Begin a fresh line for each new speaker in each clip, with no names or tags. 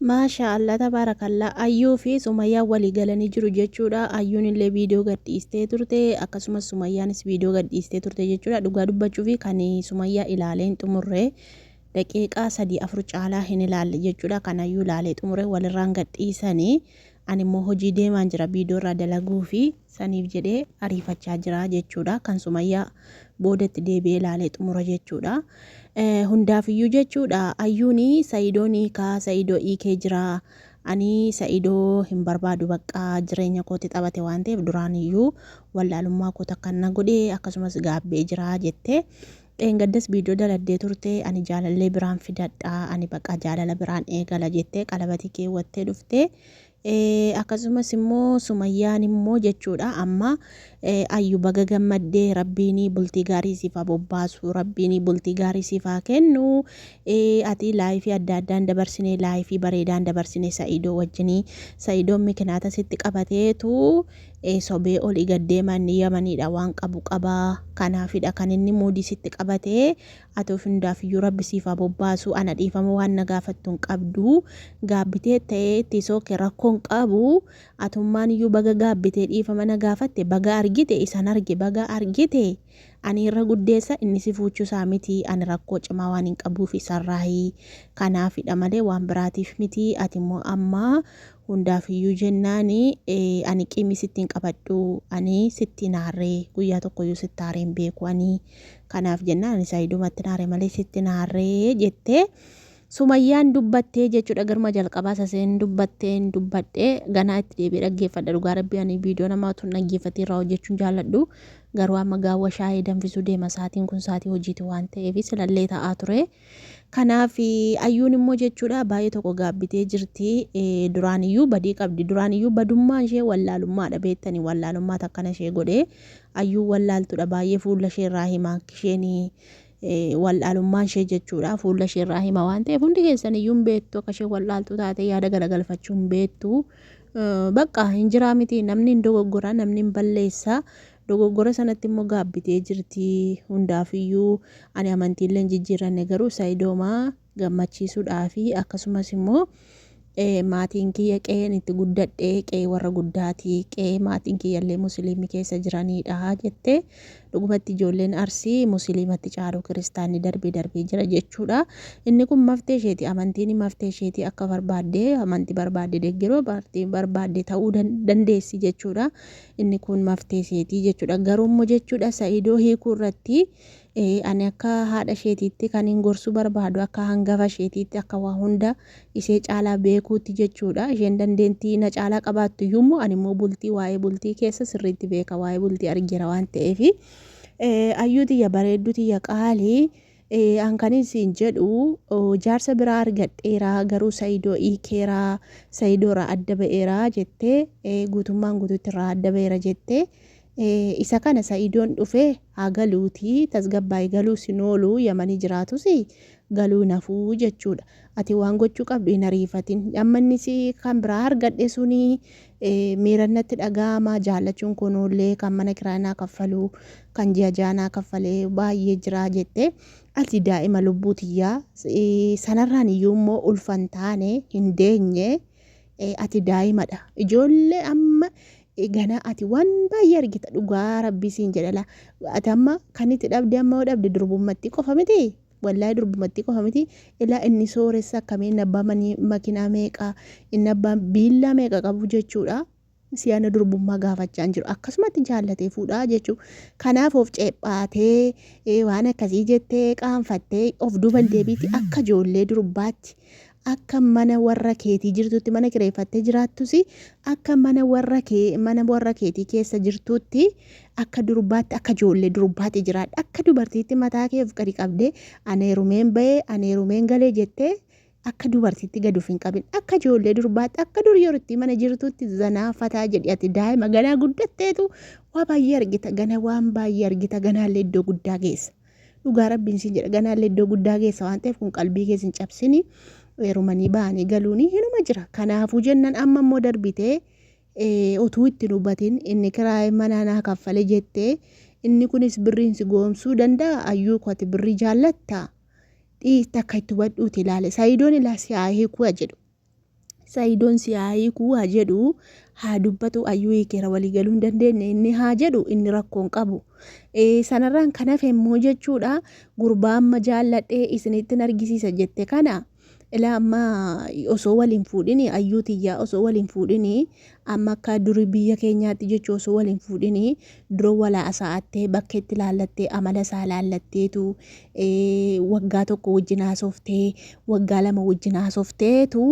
Maasha Allah tabaarakallah Ayyuu fi Sumayyaan walii galanii jiru jechuudha Ayyuun illee viidiyoo gad dhiistee turte akkasumas Sumayyaanis viidiyoo gad dhiistee turte jechuudha dhugaa dubbachuu fi kan Sumayyaa ilaalee hin xumurre daqiiqaa sadii afur caalaa hin ilaalle jechuudha kan Ayyuu ilaalee xumure walirraan gad dhiisanii Ani immoo hojii deemaan jira biidoo irraa dalaguufi saniif jedhee ariifachaa jira jechuudha. Kan Sumayyaa booda itti deebi'ee ilaalee xumura jechuudha. Hundaafiyyuu jechuudha ayyuun Sa'idoon hiikaa Sa'idoo hiikee jira. Ani Sa'idoo hin barbaadu baqqaa jireenya kootti taphate waan ta'eef duraaniyyuu wallaalummaa koo takka na godhe akkasumas gaabbee jira jettee Dheengaddas video daladdee turte ani jaalallee biraan fidadha ani baqa jaalala biraan eegala jettee qalabatii keewwattee dhufte akkasumas immoo sumayyaan immoo jechuudha amma ayyu baga gammaddee rabbiinii bultii gaarii siif haa bobbaasu rabbiinii bultii gaarii siif haa kennu ati laayifii adda addaan dabarsine laayifii bareedaan dabarsine sa'idoo wajjinii sa'idoon mikinaata sitti qabateetu ee sobee oli gad deema inni yamaniidha waan qabu qaba kanaafidha kan inni muudii sitti qabate atuuf hundaafiyyuu rabbi siif haa bobbaasu ana dhiifama waan na gaafattu hin qabdu gaabbitee ta'ee itti sooke rakkoon qabu atummaan iyyuu baga gaabbitee dhiifama na gaafatte baga argite isan arge baga argite Ani irra guddeessa, inni si fuuchuu isaa miti, ani rakkoo cimaa waanin qabuuf isarraayi. Kanaafidha malee waan biraatiif miti, ati immoo amma hundaaf iyyuu jennaan ani qiimii sitti hin qabadhu, ani sitti hin aarre, guyyaa tokko iyyuu sitti aaree hin beeku ani. Kanaaf jennaan ani Saayidumatti hin aare malee sitti hin aarre jettee Sumayyaan dubbattee jechudha garuma jalqabaa saseen dubbattee hin dubbadhe ganaa itti deebi'ee dhaggeeffadha dhugaa rabbii ani viidiyoo namaa tun dhaggeeffatee irraa hojjechuun jaalladhu garuu amma gaawwa shaayee danfisuu deema saatiin kun saatii hojiiti waan ta'eef silallee ta'aa ture kanaaf ayyuun immoo jechuudha baay'ee tokko gaabbitee jirti duraan iyyuu badii qabdi duraan iyyuu badummaan ishee wallaalummaadha beektanii wallaalummaa takkana ishee godhee ayyuu wallaaltudha baay'ee fuula ishee irraa himaa kisheenii wal'aalummaan ishee jechuudha fuula ishee irraa hima waan ta'eef hundi keessan iyyuu hin beektu akka ishee wal'aaltuu taate yaada galagalfachuu hin beektu bakka hin jiraa miti namni hin dogoggora namni hin balleessa dogoggora sanatti immoo gaabbitee jirti hundaaf iyyuu ani amantiillee hin jijjiiranne garuu sayidooma gammachiisuudhaafi akkasumas immoo maatiin kiyya qe'een itti guddadhe qe'ee warra guddaati qe'ee maatiin kiyya illee musiliimii keessa jiraniidha jettee dhugumatti ijoolleen arsii musiliimatti caalu kiristaanni darbee darbee jira jechuudha inni kun maftee isheeti amantiin maftee isheeti akka barbaadde amanti barbaadde deeggaroo baartii barbaadde ta'uu dandeessi jechuudha inni kun maftee isheeti jechuudha garuu immoo jechuudha sa'idoo hiikuu irratti Ee, ani akka haadha isheetiitti kanin gorsuu barbaadu akka hangafa isheetiitti, akka waa hunda ishee caalaa beekuutti jechuudha. Isheen dandeentii na caalaa qabaattuyyuu immoo ani immoo bultii waa'ee bultii keessa sirriitti beeka waa'ee bultii argeera waan ta'eefi. Eh, Ayyuu tiyya bareedduu tiyya qaali eh, an kanin siin jedhu oh, jaarsa biraa argadheera garuu Sa'idoo hiikeera Sa'idoo irraa adda ba'eera jettee eh, guutummaan guutuutti irraa adda ba'eera jettee Isa kana sa'iidoon dhufee haa galuutii tasgabbaa'i galuus hin oolu yamanii jiraatus galuu hin hafuu jechuudha ati waan gochuu qabdu hin ariifatin amma inni si kan biraa argadhe suni miiran natti dhaga'ama jaallachuun koo noollee kan mana kiraa naa kaffalu kan ji'a ji'aa naa kaffalee baay'ee jiraa jette ati daa'ima lubbuu tiyyaa sanarraan iyyuu immoo ulfan taane hin deenye ati daa'imadha ijoollee amma ganaa ati waan baay'ee argita dhugaa rabbii siin jedha laa ati amma kan itti dhabde amma yoo dhabde durbummattii qofa miti wallaahi durbummattii qofa miti ilaa inni sooressa akkamii inni abbaa manii makinaa meeqa inni abbaa biillaa meeqa qabu jechuudha siyaana durbummaa gaafachaa hin jiru akkasumatti jaallatee fuudhaa jechuu kanaaf of ceephaatee eh, waan akkasii jettee qaanfattee of duuban deebiitti akka ijoollee durbaatti Akka mana warra keetii jirtuutti mana kireeffattee jiraattus akka mana warra kee mana warra keetii keessa jirtuutti akka durbaatti akka ijoollee durbaatti jiraadha akka dubartiitti mataa kee of gadi qabdee ani heerumeen ba'ee ani heerumeen galee jettee akka dubartiitti gad of hin qabin akka ijoollee durbaatti akka dur yerootti mana jirtuutti zanaa fataa jedhi ati daa'ima ganaa guddatteetu waa baay'ee argita gana waan baay'ee argita ganaallee iddoo guddaa geessa. Dhugaa rabbiin siin jedha ganaallee iddoo guddaa geessa waan ta'eef kun qalbii kees hin cabsini heerumanii ba'anii galuuni hinuma jira kanaafuu jennan amma immoo darbitee eh, utuu itti hin hubatin inni kiraayee manaa naa kaffale jettee inni kunis birriin si goomsuu danda'a ayyuu kooti birrii jaallatta dhiitti akka itti hubadhuuti ilaale sayidoon ilaa si haa hiikuu jedhu Saidon si haa hiiku haa jedhu haa dubbatu ayyuu hiikeera walii galuu hin dandeenye inni haa jedhu inni rakkoo hin qabu. Eh, Sanarraan kan hafe immoo jechuudha gurbaa amma jaalladhee isinittin argisiisa jette kana ilaa amma osoo waliin fuudhini ayyuu tiyyaa osoo waliin fuudhini Amma akka duri biyya keenyaatti jechu osoo wal hin fuudhin dura wal haasa'attee bakka itti laallattee amala isaa laallatteetu waggaa tokko wajjin haasoftee waggaa lama wajjin haasofteetu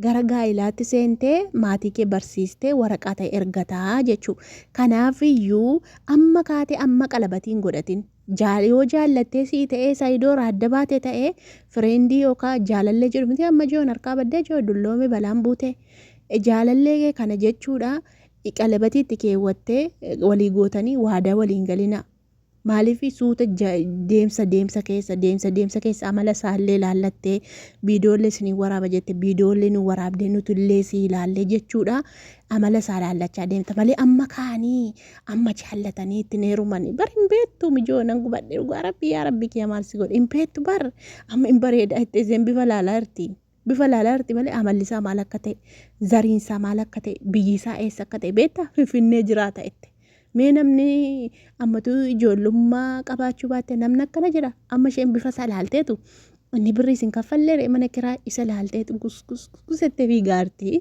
gara gaa'ilaatti seentee maatii kee barsiistee waraqaa ta'e ergataa jechuu. Kanaaf iyyuu amma kaatee amma qalabatiin godhatin Jaal yoo jaallattee sii ta'ee sayidoora adda baate ta'ee fireendii yookaa jaalallee jedhu miti amma jiyoon harkaa baddee jiyoo dulloome balaan buute jaalallee kee kana jechuudha qalabatii itti keewwattee walii gootanii waadaa waliin galina maaliif suuta deemsa deemsa keessa deemsa deemsa keessa amala isaallee ilaallattee biidoollee isinii waraaba jette biidoollee nu waraabdee nutillee sii ilaallee jechuudha amala isaa ilaallachaa deemta malee amma kaanii amma jaallatanii ittiin heerumanii bar hin beektu mijoo nan gubadhe dhugaa rabbii yaa rabbii kiyya maal si godhe hin beektu bar amma hin bareeda itti isheen bifa laalaa jirti bifa laalaa jirti malee amalli isaa maal akka ta'e zariin isaa maal akka ta'e biyyi isaa eessa akka ta'e beekta finfinnee jiraata itti mee namni ammatu ijoollummaa qabaachuu baatte namni akkana jedha amma isheen bifa isaa laalteetu inni birri isin kaffallee mana kiraa isa laalteetu gusgusgusettee fiigaarti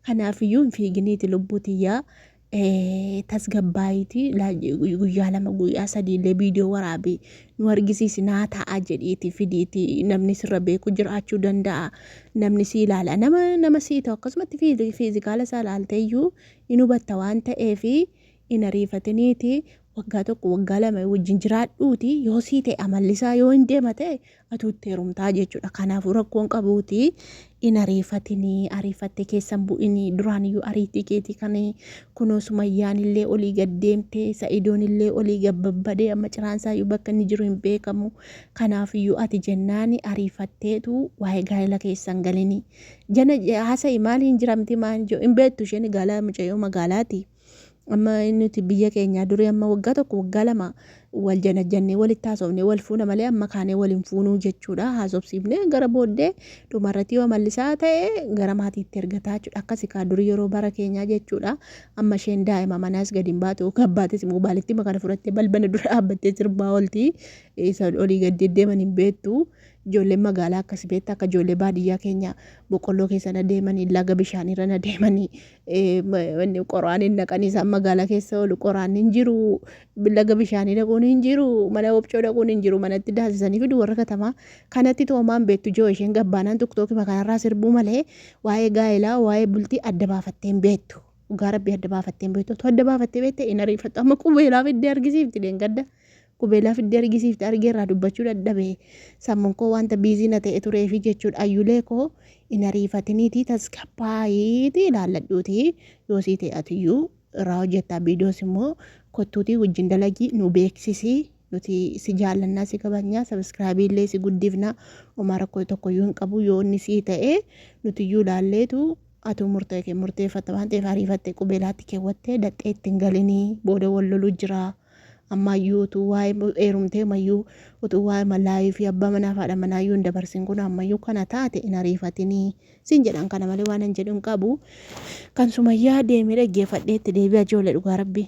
kanaafiyyuu hin fiiginiiti lubbuu tiyyaa tasgabbaa'iiti guyyaa lama guyyaa sadii illee viidiyoo waraabi nu argisiisi naa ta'a jedhiiti fidiiti namni sirra beeku jiraachuu danda'a namni si ilaala nama nama sii ta'u akkasumatti fiizikaala isaa ilaaltee iyyuu in hubatta waan ta'eef in ariifatiniiti waggaa tokko waggaa lama wajjin jiraadhuuti yoo sii ta'e amallisaa yoo hin deema ta'e atuu itti heerumtaa jechuudha. Kanaafuu rakkoon qabuuti in ariifatinii ariifattee keessan bu'inii duraan iyyuu ariitii keetii kan kunoo sumayyaan illee olii gad deemtee sa'idoon illee olii gad babbadee amma ciraan isaa iyyuu bakka inni jiru hin beekamu. Kanaaf iyyuu ati jennaani ariifatteetu waa'ee gaa'ela keessan galinii. Jana haasa'i maaliin jiramti maal hin beektu isheen gaalaa mucayyoo magaalaati. Amma nuti biyya keenyaa durii amma waggaa tokko waggaa lama wal janajjannee walitti haasofnee wal fuuna malee amma kaanee wal hin fuunuu jechuudha haasofsiifnee gara booddee dhumarratti yoo mallisaa ta'e gara maatiitti ergataa jechuudha akkasi kaa durii yeroo bara keenyaa jechuudha amma isheen daa'ima manaas gadi hin baatu yookaan baates immoo baalittima kana fudhattee balbala dura dhaabbattee sirbaa olti isa olii gad deddeeman hin beektu Ijoolleen magaalaa akkasi beekta akka ijoollee baadiyyaa keenya boqqolloo keessa na deemanii laga bishaan irra na deemanii qoraan hin naqanii isaan magaalaa keessa oolu qoraan hin jiru laga bishaanii dhaquun hin jiru mana obcoo dhaquun hin jiru manatti daasisanii fidu warra katamaa kanatti toomaan beektu ijoo isheen gabbaanaan tokkookima kanarraa sirbuu malee waa'ee gaa'elaa waa'ee bultii adda baafattee hin beektu. Dhugaa rabbii adda baafattee hin beektu. Adda baafattee beekte hin ariifattu. Amma qubeelaa fiddee argisiifti deengadda. Qubeelaa fiddee argisiifte argee irraa dubbachuu dadhabe. Sammuun koo wanta biizii na ta'e tureefi jechuudha. Ayyulee koo hin ariifatiniitii tasgabbaa'iitii ilaalladhuutii yoo sii ta'e atiyyuu irraa hojjettaa viidiyoos immoo kottuutii wajjin dalagii nu beeksisii nuti si jaallannaa si kabajnaa sabiskiraabii illee si guddifnaa homaa rakkoo tokkoyyuu hin qabu yoo inni sii ta'e nutiyyuu ilaalleetu atuu murtee kee murteeffatta waan ta'eef ariifatte qubeelaatti keewwattee daxxee ittiin galinii booda wal loluu jiraa. Ammaayyuu utuu waa'ee eerumtee mayyuu utuu waa'ee malaayii fi abbaa manaa fi haadha manaa iyyuu hin dabarsin kun ammayyuu kana taate hin ariifatinii siin jedhan kana malee waan hin jedhu hin qabu. Kan sumayyaa deemee dhaggeeffadhee itti deebi'a ijoollee dhugaa rabbii.